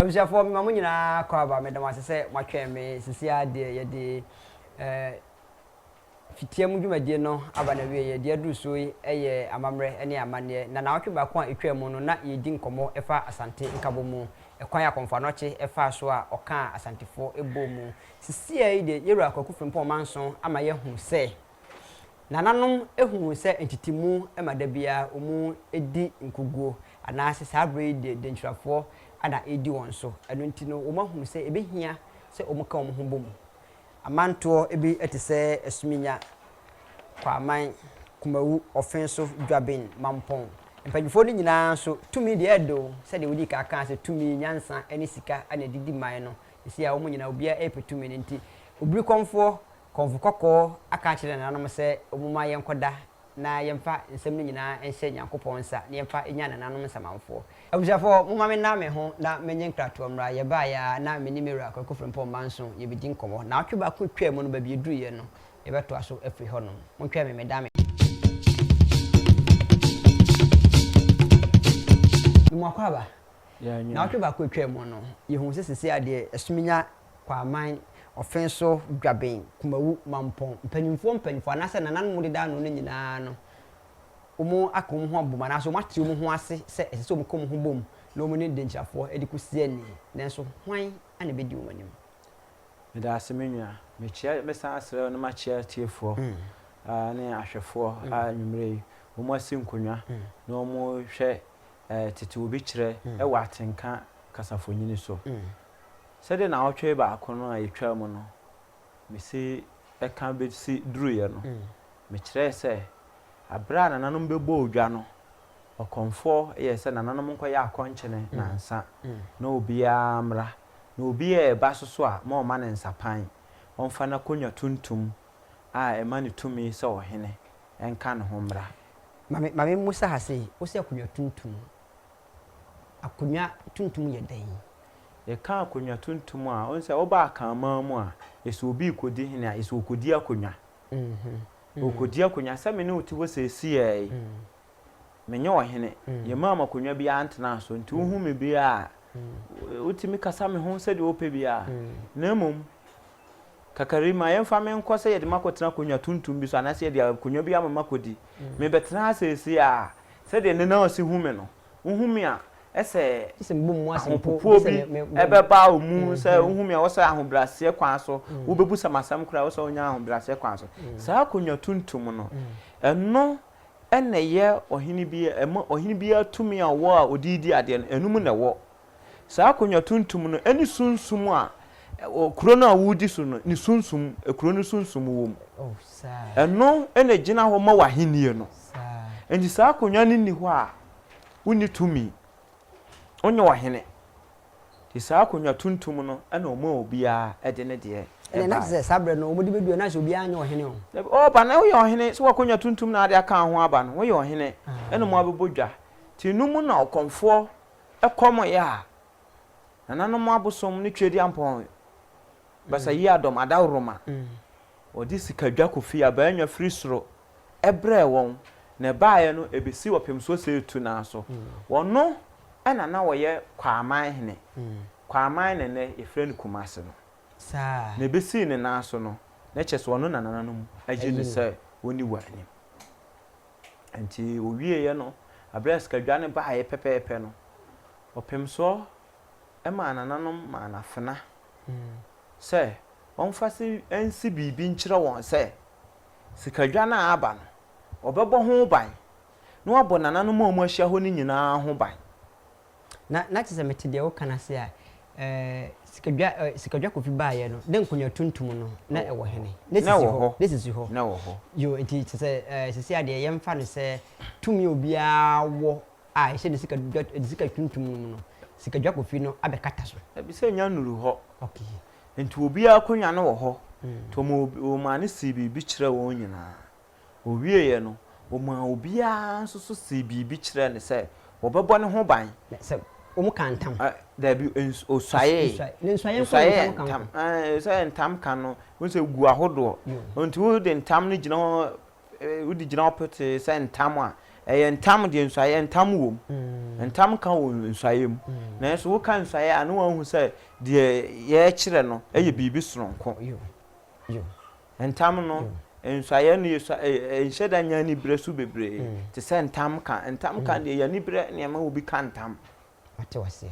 Abusuafoɔ mema mo nyinaa kɔ aba meda mo ase sɛ moatwɛn me sisi ara deɛ yɛde eh, fitia mu dwumadie no aba na wieɛ deɛ aduru soɔ yi yɛ amammerɛ ne amanneɛ na naawɔtwe baako a ɛtwaa mu no na yɛredi nkɔmmɔ ɛfa Asante nkabɔ mu ɛkwan a Kɔmfoanɔkye ɛfaa so a ɔkaa Asantefoɔ ɛbɔɔ mu sisi ara yi deɛ yɛwura Kwaku Frimpong Manso ama yɛahu sɛ Nananom hu sɛ ntetemu ma da biara wɔdi nkoguo anaasɛ saa berɛ yi deɛ dɛntwirafoɔ na ɛredi wɔn so. Ɛno nti no, wɔahunu sɛ ɛbɛhia sɛ wɔka wɔn ho bom. Amantoɔ bi te sɛ Asuminya, Kwaaman, Kumawu, Ɔfenso, Dwaben, Mampɔn. Mpanimfoɔ no nyinaa nso, tumi deɛ ɛyɛ dɛ o, sɛdeɛ wɔdii kan kaa sɛ tumi, nyansa ne sika na ɛde di man no, seesei a wɔn nyinaa obiara repɛ tumi no nti, obirikɔmfoɔ Kɔmfo kɔkɔɔ aka akyerɛ nananom sɛ momma yɛnkɔda na yɛmfa nsɛm no nyinaa nhyɛ Nyankopɔn nsa na yɛmfa nnya nananom nsamanfoɔ. Abusuafoɔ, momma menna me ho na menyɛ nkratoɔ mmra. Yɛbaeɛ ara na me ne me wura Kwaku Frimpong Manso yɛbɛdi nkɔmmɔ. Naawɔtwe baako twaa mu no, baabi yɛduruiɛ no, yɛbɛtoa so afiri hɔnom. Montwɛn me, meda me. No mu akwaaba. Naawɔtwe baako twaa mu no, yɛhuu sɛ seesei ara deɛ ɛsominya Kwaaman, ɔfe so Dwaben, Kumawu, Mampong, mpanyimfoɔ mpanyimfoɔ anaasɛ nananom deda ano no nyinaa no, wɔaka wɔn ho abom anaasɛ wɔate wɔn ho ase sɛ ɛsɛ sɛ wɔka wɔn ho bom na wɔne denkyirafoɔ de kɔsi ani. Nanso hwan na ɛbɛdi wɔn anim? Meda ase me nua. Mekyia mesan srɛ wo na makyia atiefoɔ ne ahwɛfoɔ a anwummerɛ yi wɔn asi nkonnwa na wɔrehwɛ Tete Obi Kyerɛ wɔ Atenka Kasafonyini so. Sɛdeɛ naawɔtwe baako no a yɛtwaa mu no, mesi ɛka bɛsi duruiɛ no, mekyerɛɛ sɛ, berɛ a nananom bɛbɔɔ dwa no, ɔkɔmfoɔ yɛɛ sɛ nananom nkɔyɛ akɔnkyene nnansa na obiara mmra, na obi a ɛba so so a, ma ɔmma no nsapan, ɔmfa n'akonnwa tuntum a ɛma no tumi sɛ ɔhene nka ne ho mmra. Ma me, ma me mmusa ha sei, wose akonnwa tuntum, akonnwa tuntum yɛ dɛn? Yɛka akonnwa tuntum a, wohu sɛ woba Akanman mu a, ɛsɛ obi rekɔdi hene a, ɛsɛ ɔkɔdi akonnwa. Ɔkɔdi akonnwa. Sɛ me ne wo te hɔ seesei yi, menyɛ ɔhene. Yɛmmaa me akonnwa biara ntenaa so. Nti wohu me biara a, wotumi kasa me ho sɛdeɛ wopɛ biara. Na mmom, Kakarima, yɛmfa me nkɔ sɛ yɛde me akɔtena akonnwa tuntum bi so anaasɛ yɛde akonnwa bi ama me akɔdi. Mebɛtena ha seesei ara. Sɛdeɛ nnɛ na ɔsi hu me no, wohu me a, ɛsɛ ahopopoɔ bi bɛba wo mu. Sɛ wohu me a, wɔ sɛ ahobrɛaseɛ kwan so wobɛbusa me asɛm koraa, wɔ sɛ wonya ahobrɛaseɛ kwan so. Saa akonnwa tuntum no, ɛno na ɛyɛ ɔhene biara, ɛma ɔhene biara tumi a ɔwɔ a ɔde redi adeɛ no, ɛno mu na ɛwɔ. Saa akonnwa tuntum no ne sunsum a kuro no a woredi so no ne sunsum, kuro no sunsum wom. Ɛno na ɛgyina hɔ ma w'ahenni no. Enti saa akonnwa no nni hɔ a, wonni tumi. Wonyɛ ɔhene. Nti saa akonnwa tuntum no na wɔmaa obiara de ne deɛ baeɛ. Ɛnna na te sɛ saa berɛ no wɔde bɛdua na sɛ obiara nyɛ ɔhene o. Dabi, ɔreba na woyɛ ɔhene. Sɛ w'akonnwa tuntum na ade aka ho aba no, woyɛ ɔhene na moabɛbɔ dwa. Nti no mu na ɔkɔmfoɔ Ɛkɔm yɛ a, nananom abosom ne Tweduampɔn Basayiadɔm Adaworoma wɔde sikadwa Kofi Abaanya firi soro brɛɛ wɔn, na ɛbaeɛ no ɛbɛsi Ɔpem Soɔ Seetu no ara so. Wɔno na na wɔyɛ Kwaaman hene, Kwaaman na nnɛ yɛfrɛ no Kumase no, na ɛbɛsii ne nan so no, na kyerɛ sɛ ɔno na nananom ayi no sɛ ɔnni wɔn anim. Enti ɔwieeɛ no, berɛ a sikadwa no baeɛ pɛpɛɛpɛ no, ɔpemsoɔ maa nananom maa no afena sɛ ɔmfa se nsi biribi nkyerɛ wɔn sɛ sikadwa no a aba no, ɔbɛbɔ ho ban na wabɔ nananom a wɔahyia hɔ no nyinaa ho ban. na na kyerɛ sɛ mete deɛ woka no ase a, eh, sikadwa, eh, sikadwa kofi baeɛ no, na nkonnwa tuntum no, na ɛwɔ hene, na Na sisi ɛwɔ hɔ, hɔ. na sisi hɔ. Na ɛwɔ hɔ. Yo, nti kyerɛ sɛ, eh, sisi adeɛ yɛmfa no sɛ tumi a obiara wɔ a ɛhyɛ ne sikadwa, ne sika tuntum no mu no, sikadwa kofi no abɛkata so. Dabi, sɛ nya nnuru hɔ. Okay. Nti obiara akonnwa no wɔ hɔ, nti wɔma obi, wɔmaa no sii biribi kyerɛɛ wɔn nyinaa. Ɔwieeɛ no, ɔmaa obiara nso so see biribi kyerɛɛ no sɛ wɔbɛbɔ ne ho ban. Na sɛ wɔka ntam. Ɛ, daabi, ns, ɔsuaeɛe. Ɔsuae. Ne nsuaeɛ nko na Ɔsuaeɛ ntam ka ho. ntam. Ɛɛ, sɛ ntam ka no, wohu sɛ ɛgu ahodoɔ. Yoo. Nti wode ntam no gyina hɔ, ɛ, wode gyina hɔ petee sɛ ntam a, ɛyɛ ntam deɛ nsuaeɛ ntam wɔ mu. Ntam ka wɔ nsuaeɛ mu. Nanso woka nsuaeɛ a, na wɔahu sɛ deɛ yɛrekyerɛ no yɛ biribi sononko. Yoo. Yoo. Ntam no nsuaeɛ no yɛ sua ɛɛ ɛnhyɛ da nyɛ anibere so bebree te sɛ ntam ka. Ntam ka deɛ ɛyɛ anibere na ɛma obi ka ntam. Mate wo aseɛ.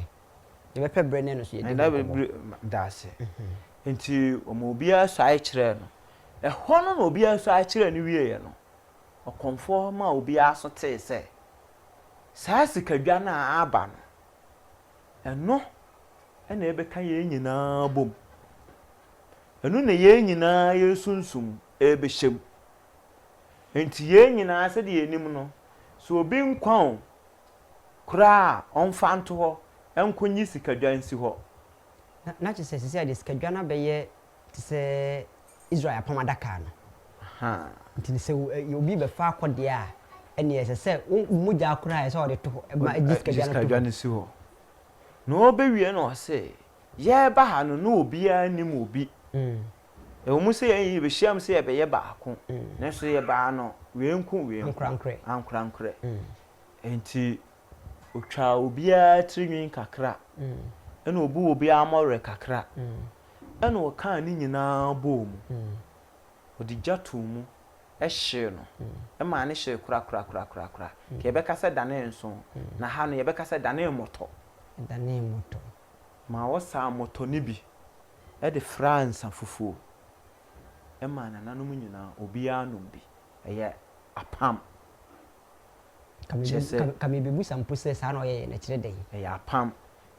Yɛbɛpɛ berɛ ne ɛno nso yɛadi ho nkɔmmɔ. Mdaase. Nti wɔma obiara suae kyerɛɛ no. Ɛhɔ no na obiara suae kyerɛɛ no wieeɛ no, ɔkɔmfoɔ maa obiara nso tee sɛ, saa sikadwa no a aba no, ɛno na ɛbɛka yɛn nyinaa abom. Ɛno na yɛn nyinaa yɛn sunsum rebɛhyɛ mu. Enti yɛn nyinaa sɛdeɛ yɛnim no, sɛ obi nkwa o, koraa a, ɔmfa nto hɔ nkɔnyi sikadwa nsi hɔ. Na, na kyerɛ sɛ seesei deɛ sikadwa no abɛyɛ te sɛ Israel apam adaka no. Ahaa. Nti no, sɛ wo, ɛ, obi rebɛfa akɔ deɛ a, ɛnneɛ ɛsɛ sɛ wo, wo mogya koraa a, ɛsɛ sɛ ɔde to hɔ, ma, gye sikadwa no to hɔ. Gye sikadwa no si hɔ. Na ɔrebɛwie no, ɔse. yɛreba ha no, na obiara nnim obi. Ɛwɔ mu sɛ yɛn nyinaa yɛbɛhyiam sɛ yɛbɛyɛ baako, nanso yɛbaa no wɛnku wɛnku, ankorankorɛ. Enti ɔtwaa obiara tiri nwi kakra, ɛna ɔbuu obiara mmɔwerɛ kakra, ɛna ɔkaa ne nyinaa bɔɔ mu, ɔde gya too mu. hyee no, ɛmaa no hyee korakorakorakorakora. Nka yɛbɛka sɛ ɛdanee nsõ, na ha no yɛbɛka sɛ ɛdanee mmɔtɔ. Ɛdanee mmɔtɔ. Ma wɔsaa mmɔtɔ no bi de fraa nsã fufuo maa nananom nyinaa, obiara nom bi. Ɛyɛ apam. Ɛkyerɛ sɛ. Nka mebɛbusa mpo sɛ saa na ɔyɛeɛ no, ɛkyerɛ dɛn? Ɛyɛ apam.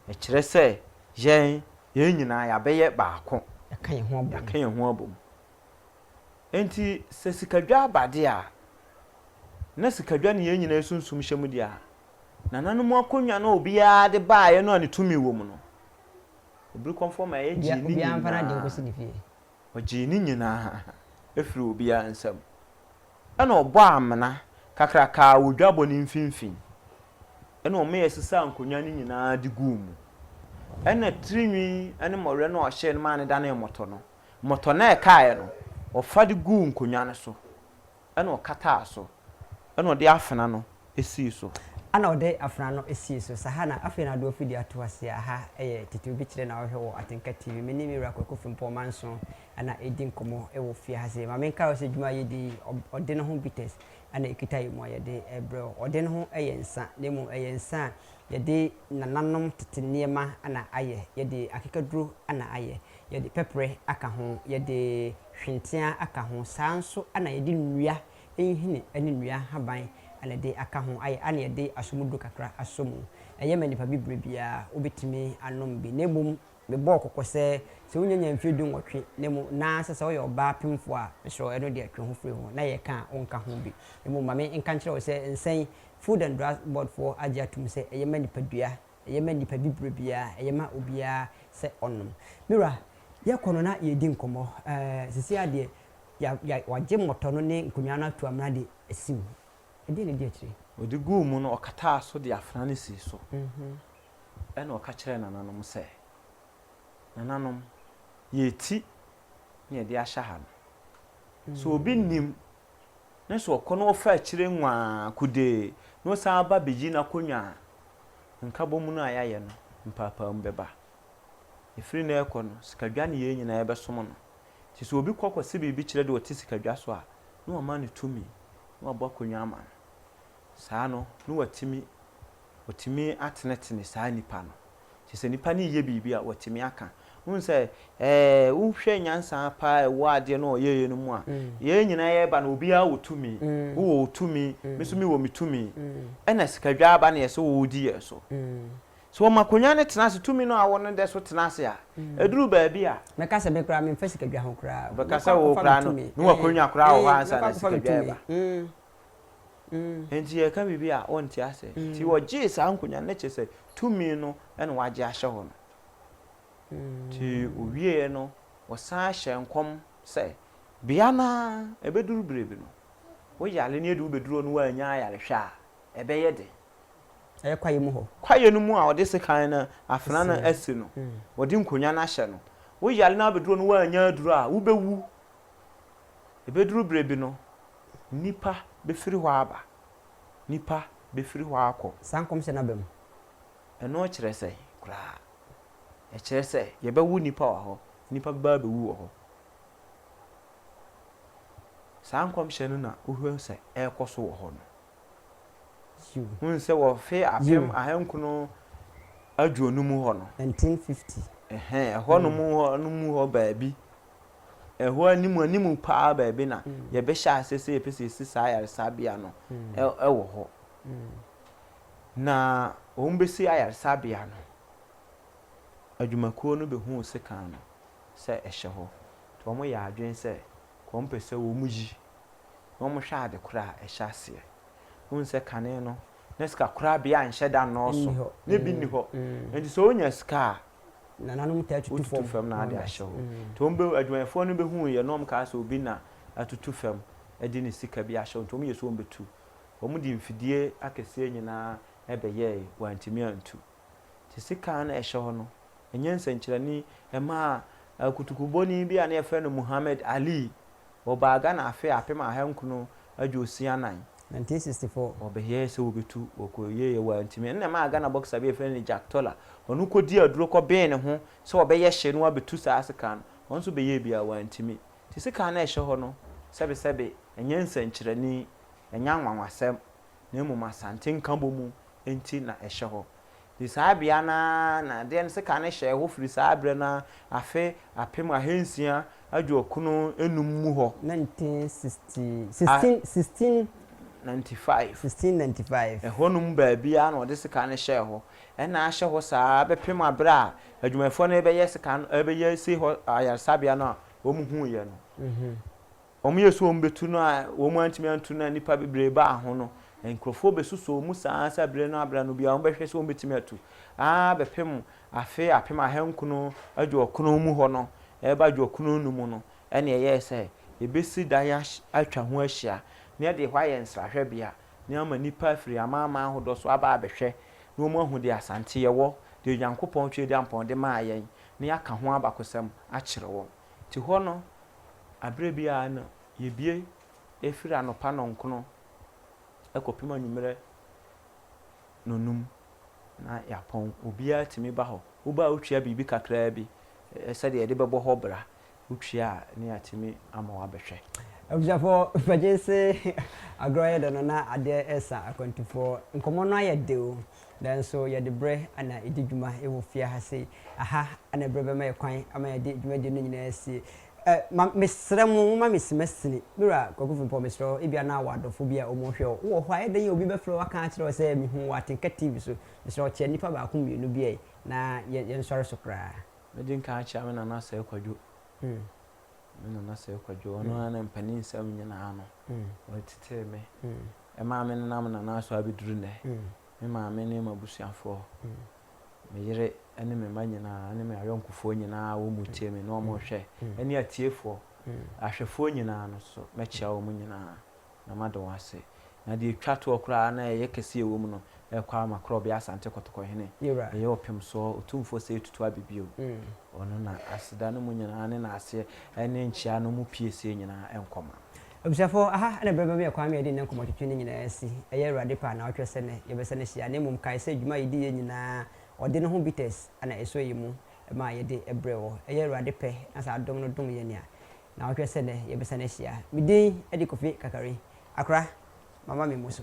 Ɛkyerɛ sɛ yɛn, yɛn nyinaa yɛabɛyɛ baako. Yɛaka yɛn ho abom. Yɛaka yɛn ho abom. Enti sɛ sikadwa ba de a, na sikadwa ne yɛn nyinaa sunsum hyɛ mu di a nananom akonnwa no a obiara de baeɛ no a ne tumi wɔ mu no, Obirikɔmfoɔ Maayɛ gyee ne nyinaa, ɔgyee ne nyinaa firii obiara nsam. Ɛnna ɔbɔɔ amena kakraka wɔ dwabɔ no mfimfini, ɛnna wɔyɛ sesaa nkonnwa no nyinaa de guu mu. Ɛnna tirinwi ne mmɔwerɛ no a ɔhyee no maa no danee mmɔtɔ no, Mmɔtɔ no a ɛkaeɛ no, ɔfa de guu nkonnwa no so, ɛna ɔkataa so, ɛna ɔde afena no sii so. Ɛna ɔde afena no sii so. Saa ha na afei na Adwoa Fidie ato aseɛ. Aha yɛ titiriw bi kyerɛ na wohwɛ wɔ Atenka TV. Me ne me wura Kwaku Frimpong Manso na ɛredi nkɔmmɔ wɔ fie ha sei. Ma menkae wo sɛ dwuma a yɛdi yi, ɔde no ho bitters na ɛkita yɛ mu a yɛde rebrɛ wo. Ɔde no ho yɛ nsa, na mmom ɛyɛ nsa a Yɛde nananom tete nneɛma na ayɛ, yɛde akekaduro na ayɛ, yɛde pɛprɛ aka ho, yɛde hwenteaa aka ho, saa ara nso na yɛde nnua nhini ne nnua nhaban na ɛde aka ho ayɛ, ɛna yɛde asomuduro kakra asɔ mu. Ɛyɛ ma nnipa bibire biara, wobɛtumi anom bi, na mmom Mebɔɔ kɔkɔ sɛ, sɛ wo nyanya mfeɛ du nwɔtwe na emu na sɛ sɛ woyɛ ɔbaa pemfoɔ a, mesrɛ wo ɛno deɛ twe ho firi ho na yɛ ka a wonka ho bi. Mmom ma me nka nkyerɛ wo sɛ nsɛn, Food and Drug Board foɔ agye atom sɛ ɛyɛ ma nipadua, ɛyɛ ma nipa bibire biara, ɛyɛ ma obiara sɛ ɔnom. Me wura, yɛ kɔ no na yɛ di nkɔmmɔ. Ɛɛ sisi ara deɛ ya ya wagye mmɔtɔ no ne nkonnwa no ato amena de asi wo ho. Ɛdeɛn na ɛdi akyire? Ɔde guu mu no ɔkataa so de afena no sii so. Ɛnna ɔka kyerɛɛ nananom sɛ, Nananom, yɛati na yɛde ahyɛ ha no, so obi nnim na sɛ ɔkɔ na ɔfa akyire nwaa kude na ɔsan ba bɛyi n'akonnwa a, nkabom no a yɛayɛ no mpaapaemu bɛba. Ɛfiri nnɛ rekɔ no, sikadwa ne yɛn nyinaa yɛbɛsom no. Nti sɛ obi kɔ kɔse biribi kyerɛ deɛ ɔte sikadwa so a, na wama no tumi na wabɔ akonnwa ama no. Saa no, na watumi Wɔtumi atenetene saa nipa no. Nti sɛ nipa no reyɛ biribi a, wɔtumi aka. Wohu sɛ, ɛɛ, wohwɛ nyansa paa a ɛwɔ adeɛ no a ɔyɛeɛ no mu a, yɛn nyinaa yɛreba no, obiara wɔ tumi. Wowɔ wo tumi, me nso mewɔ me tumi. Ɛna sikadwa aba na yɛsɛ wɔdi yɛn so. Sɛ wɔma akonnwa no tena ase, tumi no a wowɔ no da so tena ase a, ɛduru baabi a. Mɛka sɛ me koraa, memfa sikadwa ho koraa. Wobɛka sɛ wo koraa no, ne w'akonnwa koraa wɔ hɔ ansa na sikadwa reba. Enti yɛka biribi a wonte ase. Enti wɔgyee saa nkonnwa no, kyerɛ sɛ tumi no na wɔagye ahyɛ hɔ no. Enti ɔwieɛ no, wɔsan hyɛɛ nkɔm sɛ, bea no ara ɛbɛduru berɛ bi no, wo yare no yɛde wo bɛduru hɔ na woannya ayarehwɛ a, ɛbɛyɛ den. Ɛyɛ kwaeɛ mu hɔ. Kwaeɛ no mu a wɔde sekan no afena no asi no, wɔde nkonnwa no ahyɛ no. Wo yare no abɛduru hɔ na woannya aduru a, wobɛwu. Ɛbɛduru berɛ bi no, nnipa bɛfiri hɔ aba, nnipa bɛfiri hɔ akɔ. Saa nkɔmhyɛ no aba mu. Ɛno kyerɛ sɛn koraa? Ɛkyerɛ sɛ yɛbɛwo nnipa wɔ hɔ, nnipa bɛba abɛwu wɔ hɔ. Saa nkɔmhyɛ no na wohwɛ sɛ ɛrekɔ so wɔ hɔ no. Yiw. Wohu sɛ wɔ mfe Yiw. apem ahankron aduonu mu hɔ no, 1950. ɛhɛn, ɛhɔnom hɔ no mu hɔ baabi Ɛhɔ anim anim paa baabi na yɛbɛhyɛ aseɛ sɛ yɛpɛ sɛ yɛsi saa ayaresabea no wɔ hɔ. Na wɔbɛsi ayaresabea no, adwumakuo no bɛhuu sekan no sɛ ɛhyɛ hɔ, nti wɔyɛɛ adwene sɛ wɔpɛ sɛ wɔyi na wɔhwɛ adekorɔ a ɛhyɛ aseɛ. Wohu sɛ kane no na sikakorabea nhyɛ da nnɔɔso, na bi nni hɔ. Nti sɛ wonya sika a, nananom taa tutu fam. Wotutu fam na ade ahyɛ hɔ. Nti wɔn bɛ, adwumayɛfoɔ no bɛhuu yɛ na wɔn kaa sɛ obi na atutu fam de ne sika bi ahyɛ hɔ nti wɔn yɛ sɛ wɔn bɛtu. Wɔn de mfidie akɛseɛ nyinaa bɛyɛɛe, wɔantumi antu. Nti sika a na ɛhyɛ hɔ no, ɛnyɛ nsɛnkyerɛnne mmaa akutukubɔni bi a na yɛfrɛ no Muhammad Ali Wɔbaa Ghana afe apem aha nkron aduosia anan. Nineteen sixty four. Wɔbɛyɛɛ sɛ wɔbɛtu, wɔkɔyɛɛ wɔantumi. Ɛno na ɛmaa Ghana boxer bi a yɛfrɛ no Jack Toller, ɔno kɔdii aduro kɔbee ne ho sɛ ɔbɛyɛ hye na wabɛtu saa sekaa no. Ɔno nso bɛyɛɛ bi a wantumi. Nti sekaa no a ɛhyɛ hɔ no, sɛbe sɛbe, ɛnyɛ nsɛnkyerɛnne, ɛnyɛ anwanwasɛm, na mmom Asante nkabɔmu nti na ɛhyɛ hɔ. Firi saa bea no ara na adeɛ no seka no hyɛɛ hɔ firi saa berɛ no ara afe apem ahansia aduokron nnum mu hɔ. Nineteen sixty, sixteen, sixteen. Ninety five. Sixteen ninety five. Ɛhɔnom baabiara na wɔde seka no hyɛɛ hɔ. Ɛna ahyɛ hɔ saa ara bɛpem aberɛ a adwumayɛfoɔ no rebɛyɛ seka no, rebɛyɛ si hɔ ayaresabea no a wɔhuiɛ no. Wɔyɛɛ sɛ wɔbɛtu no a wɔantumi antu no a nnipa bebree baa ho no, nkurɔfoɔ bɛsusoo mu saa ara sɛ berɛ no abere ano biara wɔbɛhwɛ sɛ wɔbɛtumi atu ara bɛpem afe apem ahankron aduɔkron mu hɔ no reba aduɔkron nnum mu no ɛnna ɛyɛɛ sɛ yɛbɛsi dan atwa ho ahyia na yɛde hɔ ayɛ nsrahwɛbea na ama nnipa afiri amanaman ahodoɔ so aba abɛhwɛ na wɔahu deɛ Asante yɛwɔ, deɛ Onyankopɔn Tweaduampɔn de maa yɛn na yɛaka ho abakosɛm akyerɛ wɔn. Te hɔ no, aberɛ biara no yɛbue firi anɔpa nnɔnkono kɔpem anwummerɛ nnɔnum na yɛapɔn. Obiara tumi ba hɔ. Woba a wotua biribi kakraa bi sɛdeɛ yɛde bɛbɔ hɔ bra. Wotua a ne yɛatumi ama wo abɛhwɛ. Abusuafoɔ, fagyense agorɔ yɛ dɛ no na adeɛ resa akwantufoɔ. Nkɔmmɔ no ayɛ de o, Nanso yɛde berɛ na ɛdi dwuma wɔ fie ha sei. Aha na berɛ bɛma yɛ kwan ama yɛde dwumadie no nyinaa asie. Ɛ, ma, mesrɛ mo, momma me simasini. Me Wura Kwaku Frimpong, mesrɛ wo, ebia na wɔ adɔfo bi a wɔhwɛ wo. Wowɔ hɔ a, ɛyɛ dɛn a obi bɛfrɛ wo aka akyerɛ wo sɛ, Mehuu wo Atenka TV so. Mesrɛ wo, kyea nnipa baako mmienu bi ɛ, na yɛ, yɛnsɔre so koraa. Mɛdi nkan akyea me nana Sir Kwadwo. Me nana sɛ kwadwo ɔno ara na mpanin nsɛm nyinaa no ɔtetee me ɛmaa me nenam nana so abɛduru nnɛ me maame ne m'abusuafoɔ me yere ne me mma nyinaa ne me ayɔnkofoɔ nyinaa wɔn mu tie me na wɔn hwɛ ɛne atiefoɔ ahwɛfoɔ nyinaa no so mɛkyia wɔn nyinaa na mada wo ase. Na deɛ ɛtwa toɔ koraa na ɛyɛ kɛseɛ ɛwɔ mu no, ɛrekɔ ara ma Korɔbea Asante Kɔtɔkɔhene bɛyɛ ɔpemsoɔ otumfoɔ sɛ ɛtutu abɛ bio. Ɔno na aseda no mu nyinaa ne naaseɛ ɛne nkyea no mu piesie nyinaa nkɔma. Abusuafoɔ, aha na berɛ bɛma yɛn kwan ma yɛde nnɛ nkɔmmɔtwetwe no nyinaa asi. Ɛyɛ Awurade pɛ a na ɔtwerɛ sɛ nnɛ yɛbɛsan ahyia, na mmom kae sɛ dwuma a yɛdiiɛ nyinaa, ɔde no ho bitters na ɛsɔ yɛn mu ma yɛde brɛɛ wɔ. Ɛyɛ Awurade pɛ na saa dom no dom yɛn a, Na wohwɛ sɛ nnɛ yɛbɛsan ahyia. Me din de Kofi Kakari. Akora, mama me mmu so.